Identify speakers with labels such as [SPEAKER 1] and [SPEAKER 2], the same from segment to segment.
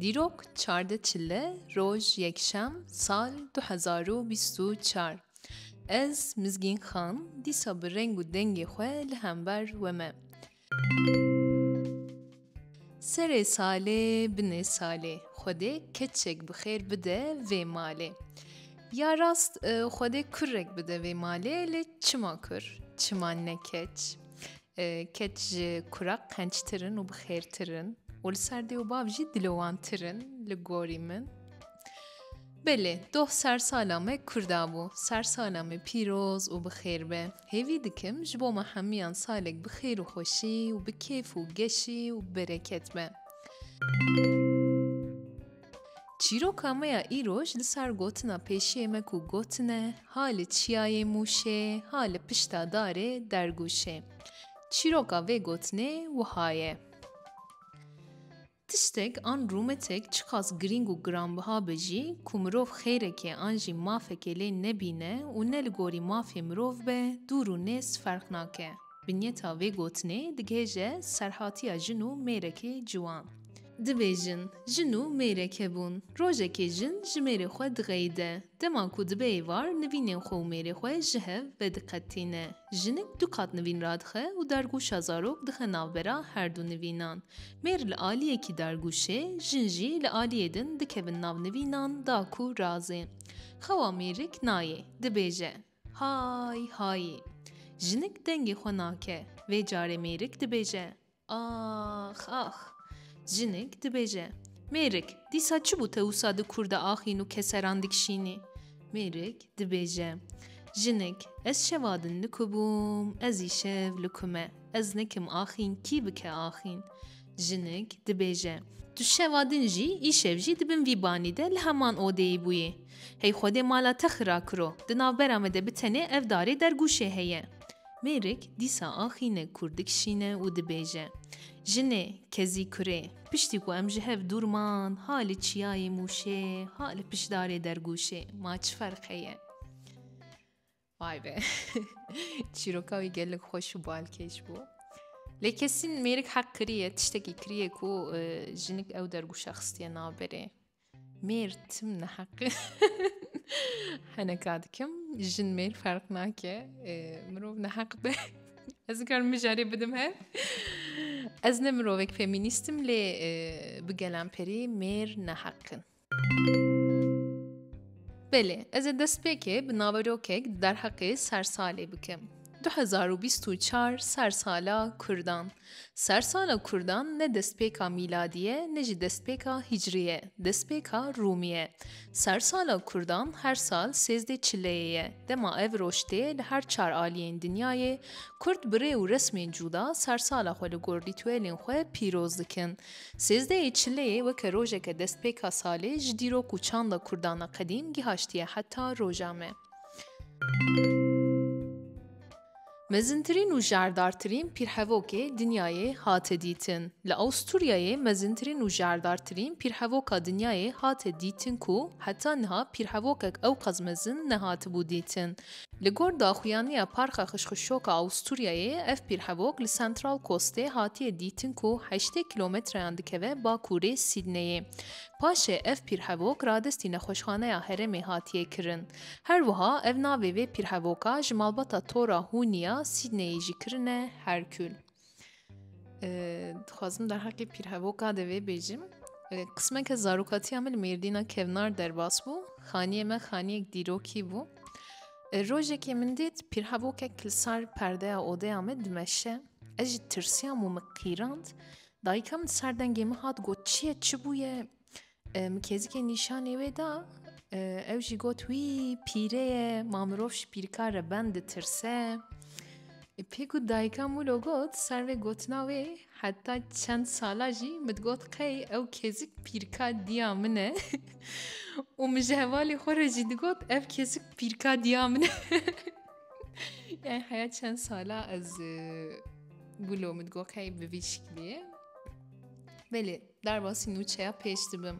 [SPEAKER 1] Dîrok çardeh çile roj yekşem sal du hezar û bîst û çar ez Mizgîn Xan dîsa bi reng û dengê xwe li hember we me. Serê salê binê salê Xwedê keçek bi xêr bide vê malê. Ya rast Xwedê kurek bide vê malê lê çima kur çima ne keç. Keç ji kurek qençtir in û bi xêrtir in û li ser dê û bav jî dilowantir in li gorî min. Belê, doh sersala me Kurda bû. Sersala me pîroz û bi xêr be. Hêvî dikim ji bo me hemiyan salek bi xêr û xweşî û bi kêf û geşî û bi bereket be. Çîroka me ya îroj li ser gotina pêşiyê me ku gotine ha li çiyayê Mûşê ha li pişta darê Dergûşê. Çîroka vê gotinê wiha ye. Tiştek an rûmetek çiqas girîng û giranbiha be jî ku mirov xêrekê an jî mafekê lê nebîne û ne li gorî mafê mirov be dûr û nêz ferq nake. Vinyeta vê gotinê digihêje serhatiya jin û mêrekê ciwan. Dibêjin, jin û mêrek hebûn. Rojekê jin ji mêrê xwe dixeyide. Dema ku dibe êvar nivînên xwe û mêrê xwe ji hev vediqetîne. Jinik du qat nivîn radixe û dargûşa zarok dixe navbera herdu nivînan. Mêr li aliyekî dargûşê, jin jî li aliyê din dikevin nav nivînan da ku razê. Xewa mêrik nayê. Dibêje. Hay hayî! Jinik dengê xwe nake, vê carê mêrik dibêje, Ax, ax! Jinik dibêje, Mêrik, dîsa çi bû te wisa di kûr de axîn û keseran dikişînî? Mêrik dibêje, Jinik, ez şeva din li ku bûm, ez îşev li ku me. Ez nikim axîn, kî bike axîn? Jinik, dibêje, Tu şeva din jî, îşev jî di bin vî banî de li heman odeyê bûyê. Hey Xwedê mala te xira kiro, di navbera me de bi tenê ev darê dergûşê heye. Mêrik dîsa axîne kûr dikişîne û dibêje, Jinê, kezî kurê, piştî ku em ji hev dûr man, ha li çiyayê Mûşê, ha li pişt darê dergûşê, ma çi ferq heye? Vay be. Çîroka wî gelek xweş û balkêş bû. Lê kesîn mêrik heq kiriye tiştekî kiriye ku e, jinik ew dergûşa xistiye naberê. Mêr tim neheqi. Heneka dikim jin mêr ferq nake. E, mirov neheq be. Ez dikarim mijarê bidim he. Ez ne mirovek feministim lê e, bi gelan perî mêr neheqin. Belê, ez ê destpêkê bi naverokek di derheqê sersalê bikim. Du hezar û bîst û çar sersala Kurdan. Sersala Kurdan ne destpêka mîladî ye ne jî destpêka hîcrî ye, destpêka rûmî ye. Sersala Kurdan her sal sêzdê çileyê ye. Dema ev roj tê li her çar aliyên dinyayê Kurd bi rê û resmên cûda sersala xwe li gor rîtûelên xwe pîroz dikin. Sêzdeyê Çileyê weke rojeke destpêka salê ji dîrok û çanda Kurdan a qedîm gihaştiye heta roja me. Mezintirîn û jardartirîn pîrhevokê dinyayê hate dîtin. Li Awisturyayê mezintirîn û jardartirîn pîrhevoka dinyayê hate dîtin ku heta niha pîrhevokek ewqas mezin nehatibû dîtin. Li gor daxuyaniya Parka Xişxişoka Awisturyayê ev pîrhevok li Central Coastê hatiye dîtin ku heştê kîlometreyan dikeve bakurê Sîdneyê. Paşê ev pîrhevok radestî nexweşxaneya herêmê hatiye kirin. Her wiha ev navê vê pîrhevoka ji malbata Tora Hûniya Sîdneyê jî kirine Herkul. Dixwazim derheqê pîrhevoka de vê bêjim. Qismeke zarokatiya min li Mêrdîna kevnar derbas bû. Xaniyê me xaniyek dîrokî bû. Rojekê min dît pîrhevokek li sar perdeya odeya me dimeşe. Ez jî tirsiyam û min qîrand. Dayika min serdengê min hat got çi ye çi bûye? Min kêzikê nîşanê wê da, ew jî got wî pîre ye, ma mirov ji pîrkar re ben ditirse. Pê ku dayika Mûlo got, ser vê gotina wê heta çend sala jî min digot qey ew kêzik pîrka diya min e û min ji hevalê xwe re jî digot ev kêzik pîrka diya min e. Yani heya çend sala ez Mûlo min digot qey bi vî şiklê ye. Belê Derbasî nûçeya pêş dibim.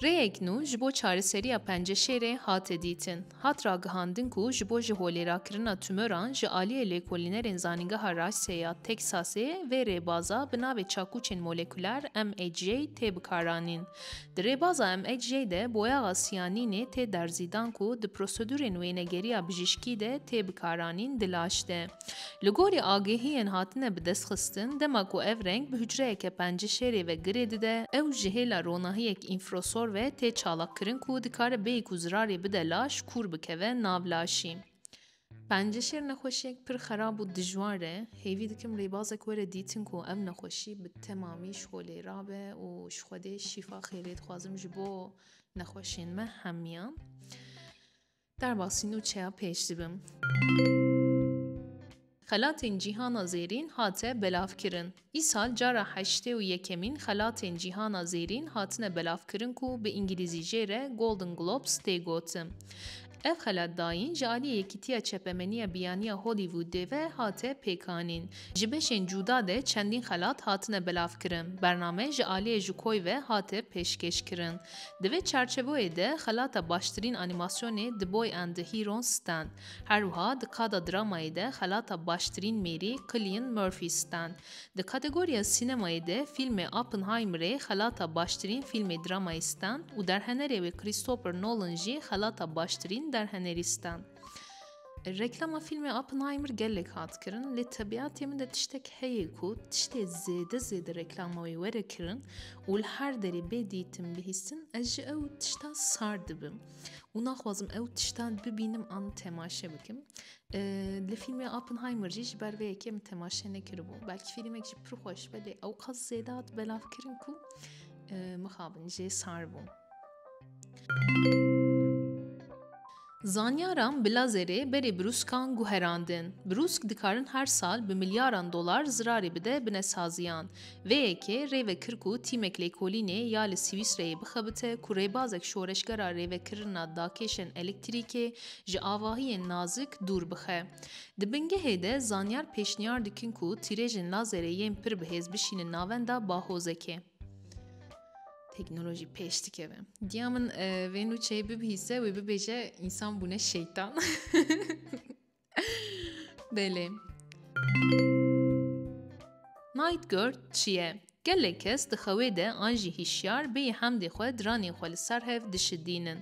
[SPEAKER 1] Rêyek nû ji bo çareseriya penceşêrê hate dîtin. Hat ragihandin ku ji bo jiholêrakirina tûmöran ji aliyê lêkolînerên Zanîngeha Rice ya Teksasê vê rêbaza bi navê çakûçên molekuler, MHJ, tê bikaranîn. Di rêbaza MHJ de boyaxa siyanînê tê derzîdan ku di prosedûrên wênegeriya bijîşkî de tê bikaranîn di laş de. Li gorî agehiyên hatine bi dest xistin, dema ku ev reng bi hucreyeke penci şêrê ve girê dide, ew ji hêla ronahiyek înfrosor ve tê çalakkirin ku dikare bêyî ku zirarê bide laş kûr bikeve nav laşî. Penci şêr nexweşiyek pir xerab û dijwar e. Hêvî dikim rêbazek were dîtin ku ev nexweşî bi temamî ji xwe lê rabe û ji Xwedê şîfa xêrê dixwazim ji bo nexweşiyên me hemiyan. Derbasî nûçeya pêş dibim. Xelatên Cîhana Zêrîn hate belavkirin. Îsal cara heştê û yekemîn Xelatên Cîhana Zêrîn hatine belavkirin ku bi îngilîzî jê re Golden Globes tê gotin. Ev xelat dayîn ji aliyê Yekîtiya Çepemeniya Biyaniya Hollywoodê ve hate pêkanîn. Ji beşên cuda de çendîn xelat hatine belavkirin. Bername ji aliyê Jukoy ve hate pêşkêşkirin. Di vê çarçevoyê de xelata baştirîn anîmasyonê The Boy and the Heron stan. Her wiha di kada dramayê de xelata baştirîn mêrî Cillian Murphy stan. Di kategoriya sînemayê de fîlmê Oppenheimerê xelata baştirîn fîlmê dramayê stan û derhenerê wê Christopher Nolan jî xelata baştirîn derhenerî stan. Reklama fîlmê Oppenheimer gelek hat kirin lê tebîatê min de tiştek heye ku tiştê zêde zêde reklama wê were kirin û li her derê bê dîtin bihîstin ez ji ew tişta sar dibim û naxwazim ew tiştan bibînim an temaşe bikim. Li fîlmê Oppenheimer jî ji ber vê yekê min temaşe nekiribû. Belkî fîlmek jî pir xweş be lê ew qas zêde hat belavkirin ku mixabin jê sar bûm. Zanyaran bi lazerê berê brûskan guherandin. Brûsk dikarin her sal bi milyaran dolar zirarê bide binesaziyan. Vê yekê rêve kir ku tîmek lêkolînê ya li Swîsreyê bixebite ku rêbazek şoreşgera rêvekirina dakêşên elektrîkê ji avahiyên nazik dûr bixe. Di bingehê de zanyar pêşniyar dikin ku tîrêjên lazerê yên pir bihêz bişînin navenda bahozekê. Teknoloji pêş dikeve. Diya min vê nûçeyê bibihîse wê bibêje însan bûne şeytan. Belê. Night Girl çi ye? Gelek kes di xewê de an jî hîşyar bêyî hemdê xwe diranên xwe li ser hev dişidînin.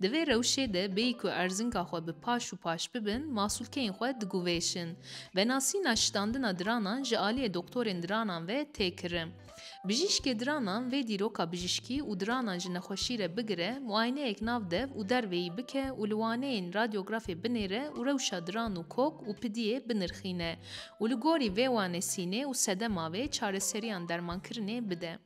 [SPEAKER 1] Di vê rewşê de bêyî ku erzinka xwe bi paş û paş bibin, masûlkeyên xwe diguvêşin. Venasîna şitandina diranan ji aliyê doktorên diranan ve tê kirin. Bijîşkê diranan vê dîroka bijîşkî û diranan ji nexweşî re bigire, muayeneyek nav dev û dervê yî bike û li waneyên radyografê binêre û rewşa diran û kok û pidiyê binirxîne û li gorî vê wanê sînê û sedema vê çareseriyan dermankirinê bide.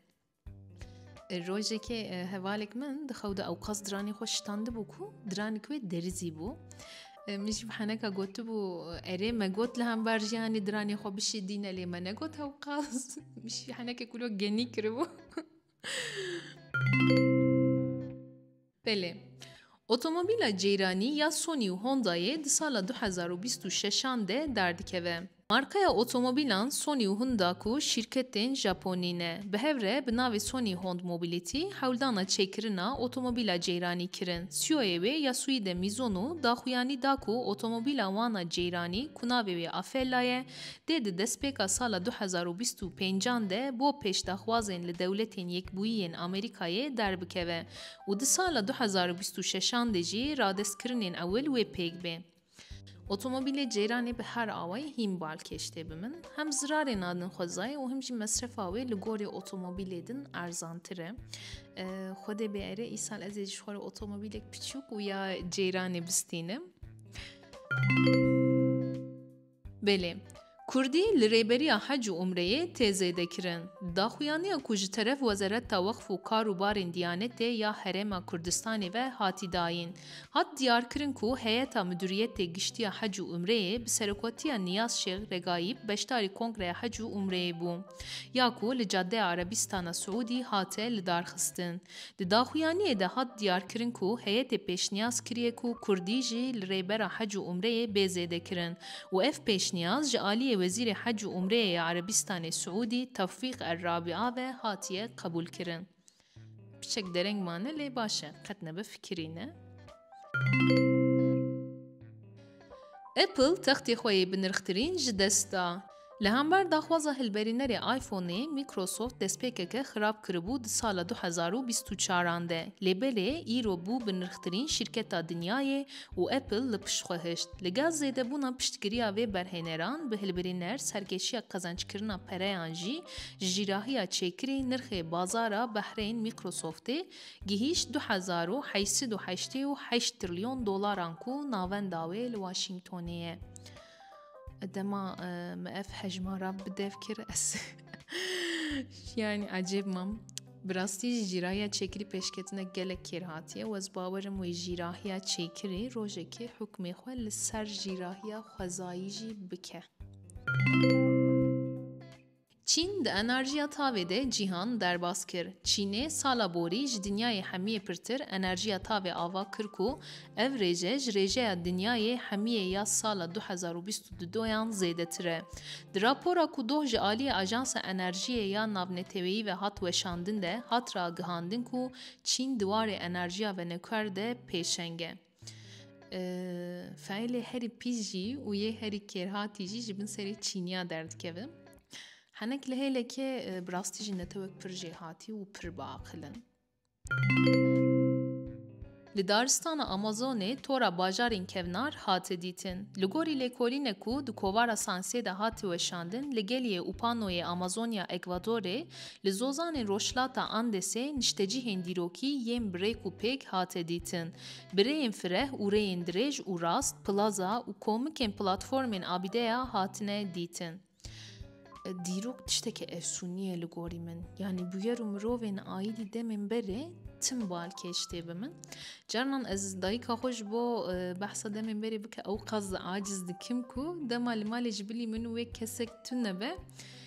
[SPEAKER 1] Rojekê hevalek min di xew de ewqas diranê xwe şitandibû ku diranik wê derizî bû. Min jî heneka gotibû erê me got li hember jiyanê diranê xwe bişêdîne lê me negot hewqas min jî henekê kûlo genî kiribû Belê Otomobîla ceyranî ya Sony û Hondayê di sala du hezar û bîst û şeşan de derdikeve. Markaya otomobîlan Sony û Honda ku şîrketên Japonî ne, bi hev re bi navê Sony Hond Mobility hewldana çêkirina otomobîla ceyranî kirin. CEO'yê wê Yasuhide Mizono daxuyanî da ku otomobîla wan a ceyranî ku navê wê Afeella ye, dê di destpêka sala du hezar û bîst û pênc an de bo pêşdaxwazên li Dewletên Yekbûyiyên Amerîkayê derbikeve û di sala du hezar û bîst û şeş an de jî radestkirinên ewil wê pêk bê. Otomobîlê ceyranê bi her awayî hîn balkêş tê bi min. Hem zirarê nadin xwezayê û him jî mesrefa wê li gorî otomobîlê din erzantir e. Xwedê biere îsal ez ê ji xwe re otomobîlek piçûk û ya ceyranê bistînim. Belê. Kurdî li rêberiya hec û umreyê tê zêdekirin. Daxuyaniya ku ji teref Wezareta Weqf û Kar û Barên Diyanetê ya Herêma Kurdistanê ve hatî dayîn, hat diyarkirin ku Heyeta Miduriyetê Giştî ya Hec û Umreyê bi serokwatiya Niyaz Şêx Regaîb beşdarî Kongreya Hec û Umreyê bû ya ku li Cadeya Erebîstana Siûdî hate lidarxistin. Di daxuyaniyê de hat diyarkirin ku heyetê pêşniyaz kiriye ku kurdî jî li Rêbera Hec û Umreyê bê zêdekirin û ev pêşniyaz ji aliyê Wezîrê Hec û Umreyê ya Erebîstanê Siûdî Tewfîq El Rabia ve hatiye qebûlkirin. Piçek dereng mane lê baş e, qet nebe fikirî ne. Apple textê xwe yê binirxtirîn ji dest da. Li hember daxwaza hilberînerê iPhoneê, Microsoft destpêkeke xirab kiribû di sala du hezar û bîst û çaran de, lê belê îro bû bi nirxtirîn şîrketa dinyayê û Apple li pişt xwe hişt. Li gel zêdebûna piştgiriya vê berhêneran bi hilbirîner serkêşiya qezencikirina pereyan jî ji jîrahiya çêkirî nirxê bazara behreyên Microsoftê gihîşt du hezar û heşt sed û heştê û heşt trilyon dolaran ku navenda wê li Washingtonê ye. Dema me ev hejmara bi dev kir ez yani acêb mam. Bi rastî jî jîrahiya çêkirî pêşketina gelek kêr hatiye wez bawerim wê jîrahiya çêkirî rojekê hukmê xwe li ser jîrahiya xwezayî jî bike. Çîn di enerjiya tavê de cîhan derbas kir. Çînê sala borî ji dinyayê hemiyê pirtir enerjiya tavê ava kir ku ev rêje ji rêjeya dinyayê hemiyê ya sala du hezar û bîst û du doyan zêdetir e. Di rapora ku doh ji aliyê Ajansa Enerjiyê ya Navneteweyî ve hat weşandin de hat ragihandin ku Çîn di warê enerjiya venûker de pêşeng e. Faîlê herî pîs jî û yê herî kêrhatî jî ji bin serê çîniya derdikevin. Henek li hêlekê bi rastî jî netewek pir jêhatî û pir biaqil in. Li daristana Amazonê tora bajarên kevnar hate dîtin. Li gorî lêkolîne ku di kovara Sansê de hate weşandin li geliyê Upanoyê Amazonya Ekvadorê li zozanên Rojhilata Andesê niştecihên dîrokî yên bi rêk û pêk hate dîtin Bi rêyên fireh û rêyên dirêj û rast plaza û komikên platformên Abîdeya hatine dîtin. Dîrok tişteke efsûnî ye li gorî min. Yanî bûyer û mirovên aîdî demên berê tim balkêş tê bi min. Carnan ez dayika xwe ji bo e, behsa demên berê bike ewqas aciz dikim ku dema li malê ji bilî min wê kesek tune be